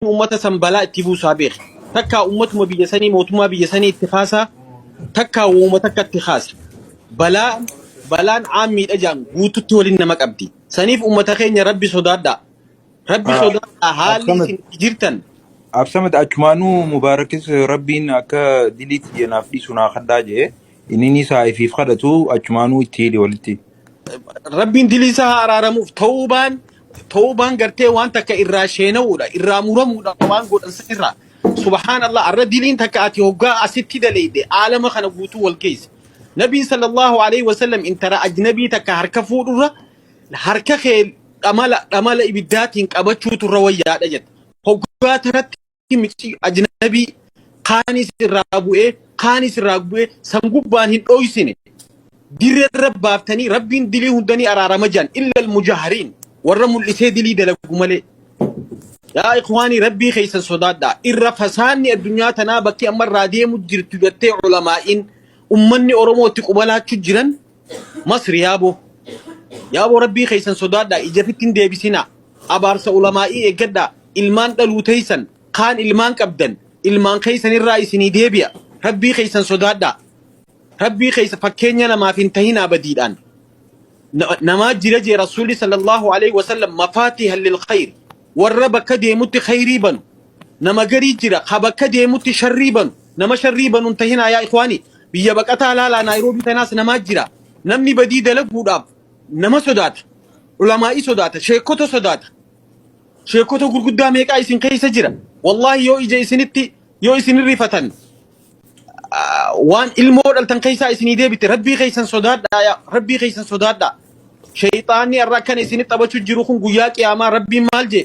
ummata san balaa itti buusaa beeki. Takkaa ummatuma biyya sanii mootummaa biyya sanii itti kaasaa takkaa wooma takka itti kaasa. Balaa balaan aammiidha jaan guututti waliin nama qabdi. Saniif ummata keenya rabbi sodaadhaa. Rabbi Ah, sodaadhaa haalli Absamad, isin itti jirtan Absamad achumaanuu Mubaarakis Rabbiin akka dilii tiyya naaf dhiisu naa kadhaa jee. Inninis haa ifiif kadhatu achumaanuu itti hidhi walitti. rabbiin dilii isaa haa araaramuuf ta'uubaan Tawbaan gartee waan takka irraa sheena'uudha, irraa muramuudha waan godhan san irraa. Subhaanallah, arra diliin takka ati hoggaa asitti daleyde aalama kana guutuu wal geesse. Nabiin sallallahu alaihi wasallam intara ajnabii takka harka fuudhurra harka kee dhamala dhamala ibiddaatiin qabachuutu irra wayyaadha jedhe. Hoggaa tanatti micii ajnabii kaanis irraa bu'ee kaanis irraa bu'ee san gubbaan hin dhooysine dirrerra baaftanii rabbiin dilii hundanii araarama jiran illal mujahariin warra mul'isee dilii dalagu malee yaa ikwaanii rabbii keeysan sodaadhaa irra fasaanni addunyaa tanaa bakki amma irraa deemu jirtu gattee ulamaa'iin ummanni oromootti qubalaachu jiran Masri yaaboo. Yaaboo rabbii keessan sodaadhaa ijafitti hin deebisinaa. Abaarsa ulamaa'ii eeggadhaa. Ilmaan dhaluu teessan kaan ilmaan qabdan ilmaan keessan irraa isinii deebi'a. Rabbii keessan sodaadhaa. Rabbii keessa fakkeenya namaaf hin tahinaa badiidhaan. Na- Namaa jira jee Rasuulli sallallahu alaihi wasallam mafaatiha lil khayri. Warra bakka deemutti khayrii banu. Nama garii jira ha bakka deemutti sharrii banu. Nama sharrii banu hin tahinaa yaa ikwaanii. Biyya baqataa laalaa Naayiroobii tanaas namaa jira. Namni badii dalaguudhaaf nama sodaata. Ulamaa'ii sodaata. Sheekota sodaata. Sheekota gurguddaa meeqaa isin keessa jira. Wallaahi yoo ija isinitti yoo isin irrifatan waan ilmoo dhaltan keessaa isinii deebite rabbii keessan sodaadhaa yaa rabbii keessan sodaadhaa. Sheeyxaanni irra akkana isinitti taphachuu jiru kun guyyaa qiyaamaa rabbiin maal jee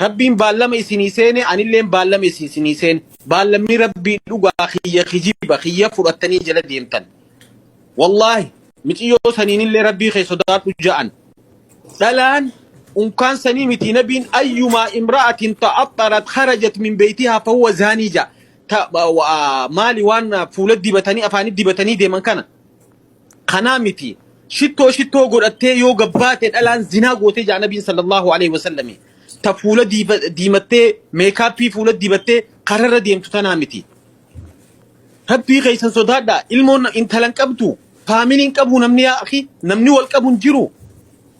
Rabbiin baallama isinii seene, anilleen baallama isin isinii seene. Baallamni Rabbii dhugaa kiyya kijiba kiyya fudhattanii jala deemtan. Wallaahi miciyyoo saniinillee Rabbii kee sodaadhu ja'an. Dhalaan unkaan sanii miti nabiin ayyumaa imra'atin ta'axxarat kharajat min beeytihaa fahuwa zaanii ja'a. Ta, wa, maali waan fuula dibatanii afaanii dibatanii deeman kana. kanaa miti shittoo shittoo godhattee yoo gabbaate dhalaan zinaa gootee jaa nabiin sallallahu alaihi wasallami ta fuula diiba- diimattee meekaappii fuula dibattee kararra deemtu tanaa miti rabbii keessan sodaadhaa ilmoon intalan qabdu faamiliin qabu namni yaa akhi namni wal qabu hin jiru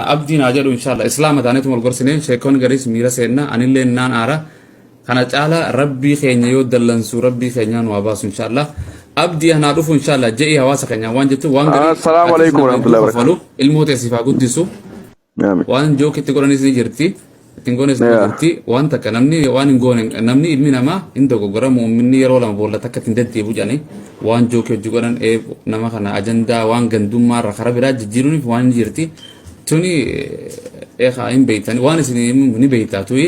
Abdiin haa jedhu inshallah islaama taaneetu wal gorsinee sheekonni gariis miira seenna anillee naan aara kana caala rabbii keenya yoo dallansuu rabbii keenyaa nu haa baasu inshallah abdii anaa dhufu inshallah je'ii hawaasa keenyaa waan jettu waan garii Assalaamu atiis alaikum nageentuu warahmatullahi wabarakatuh. kafalu ilmoo teessiif haa guddisu Amin. waan jookitti godhanis ni jirti ittiin goones ni Yeah. jirti waan takka namni waan hin goone hin- namni ilmi namaa hin dogoggora muumminni yeroo lama boolla takka ittiin deddeebu jedhanii waan jookii hojii godhan ee nama kana ajandaa waan gandummaa irra karaa biraa jijjiiruuniif waan ni jirti tuni eekaa hin beeytan waan isin ni beeytaa tuyi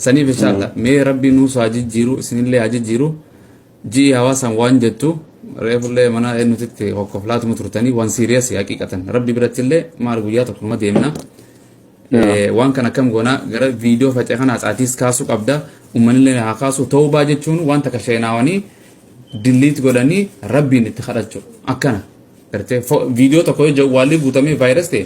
saniif inshaalla mee rabbii nuus haa jijjiiru isinillee haa jijjiiru Ji'i hawaasaan waan jettu reefullee mana eenyutitti kokkoflaatuma turtanii waan siiriyasii haqiiqatan rabbi birattillee maal guyyaa tokkuma deemna. Eh, Waan kan akkam goona gara viidiyoo faca'e kana haxaatiis kaasuu qabda uummanillee haa kaasu ta'ubaa jechuun waan takka sheenaawanii dilliit godhanii rabbiin itti kadhachuu akkana. Gartee fo- viidiyoo tokko yoo jawwaalli guutamee vaayiras ta'e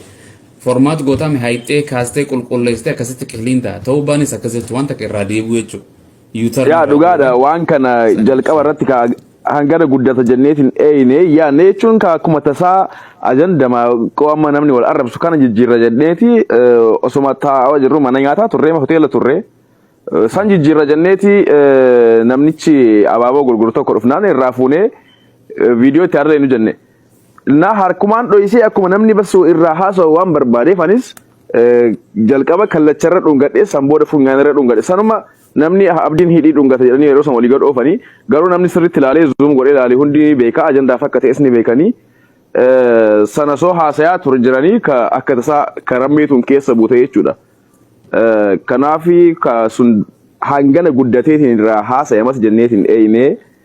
formaat gootame haayixee kaastee qulqulleessitee akkasitti qiliin ta'a ta'ubaanis akkas jechuun waan takka irraa deebi'u jechuudha. yuutarni Yaa dhugaa dhugaadha godhan waan kana sana jalqaba ibsuu irratti kaa hangana guddata jenneet hin eeyne yaanne jechuun kaa akkuma tasaa ajandama qoo amma namni wal arrabsu kana jijjiirra jenneeti eh, osoma taa'aa jirru mana nyaataa turree ma hoteela turree eh, san jijjiirra jenneeti eh, namnichi abaaboo gurguru tokko dhufnaan irraa fuunee eh, viidiyoo itti harree nu jenne Naa harkumaan dhoysee akkuma namni bassu irraa haasa'u waan barbaadeef anis eh, jalqaba kallacharra dhungadhe san booda funyaanirra dhungadhe sanuma namni ah, abdiin hidhii dhungata jedhanii yeroo san walii gad oofanii garuu namni sirriitti ilaalee zuum godhee ilaalee hundi ni beeka ajandaa fakka ta'es ni beekanii eh, sana soo haasayaa ture jiranii ka akka tasaa ka rammeetuun keessa buute jechuudha. Eh, Kanaafi ka sun hangana guddateetiin irraa haasayamas jenneetiin eeynee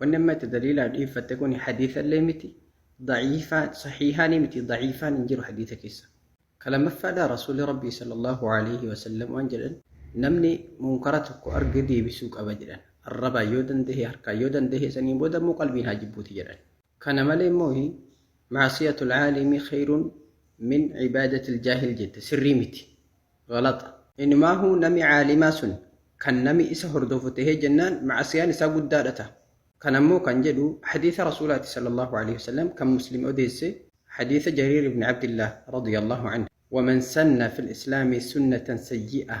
Wanni amma itti daliilaa dhiiffatte kuni hadiisa illee miti, daciifaa, sahiihaanii miti, daciifaan hin jiru hadiisa keessa. Ka lammaffaadhaa Rasuulli Rabbii sallallahu aleyhi wa sallam waan jedhan, namni munkara tokko arge deebisuu qaba jedhan. Arrabaan yoo dandahe, harkaan yoo dandahe, saniin booda ammoo qalbiin haa jibbuuti jedhan. Kana malee moohi ma'asiyatul aalimi khayrun min ibaadatil jaahil jette sirrii miti. Ghalaxa. Inumaahu nami aalimaa sun kan nami isa hordofu tahee jennaan ma'asiyaan isaa guddaadha taha. Kana immoo kan jedhu hadiisa Rasuulaati sallallahu aleyhi wa sallam kan Muslim odeesse hadiisa Jariir ibn Abdillaah radiyallaahu anhu. Waman sanna fil islaami sunnatan sayyi'ah.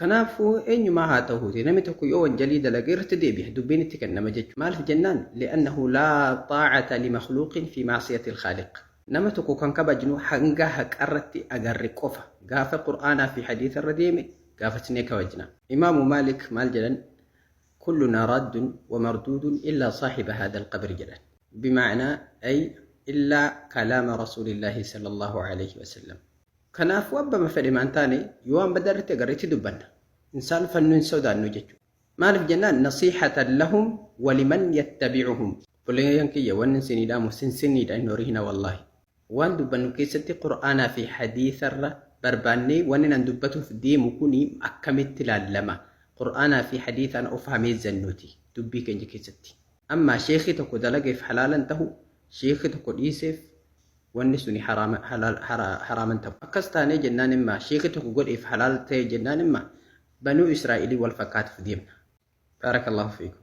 Kanaafuu eenyumaa haa tahuuti namni tokko yoo wanjalii dalage irratti deebiha dubbiin itti kennama jechuudha. Maaliif jennaan li'annahu laa xaacata limakhluuqin fi macsiyati lkhaaliq. Nama tokko kan kabajnu hanga haqarratti agarre qofa. Gaafa qur'aanaa fi hadiisa irra deeme gaafachnee kabajna. Imaamu Maalik maal jedhan kullunaa raaddun wa marduudun illaa saahiba haadha alqabri jedhan. Bimaacnaa ay illaa kalaama rasuulillaahi sallallaahu alayhi wa sallam. Kanaafuu abbama fedhe maan taane yoo waan badaa irratti agarre itti dubbanna. Hin saalfannu hin sodaannu jechuudha. Maaliif jennaan nasiihatan lahum waliman yattabi'uhum. Obboleeyyan kiyya wanni isinii dhaamu sinsinniidha hin horihina wallaahi. Waan dubbannu keessatti qur'aanaa fi hadiisa irra barbaannee wannin an dubbatuuf deemu kuni akkamitti laallama? Qur'aanaa fi hadiisaan of haa meezzannuuti dubbii keenya keessatti. Ammaa sheekhii tokko dalageef halaalan tahu, sheekhii tokko dhiiseef wanni suni haraama halaal hara- haraaman ta'u akkas taanee jennaan imma sheekhi tokko godheef halaal ta'e jennaan imma banuu israa'ilii wal fakkaatuuf deemna baarakallahu fiikum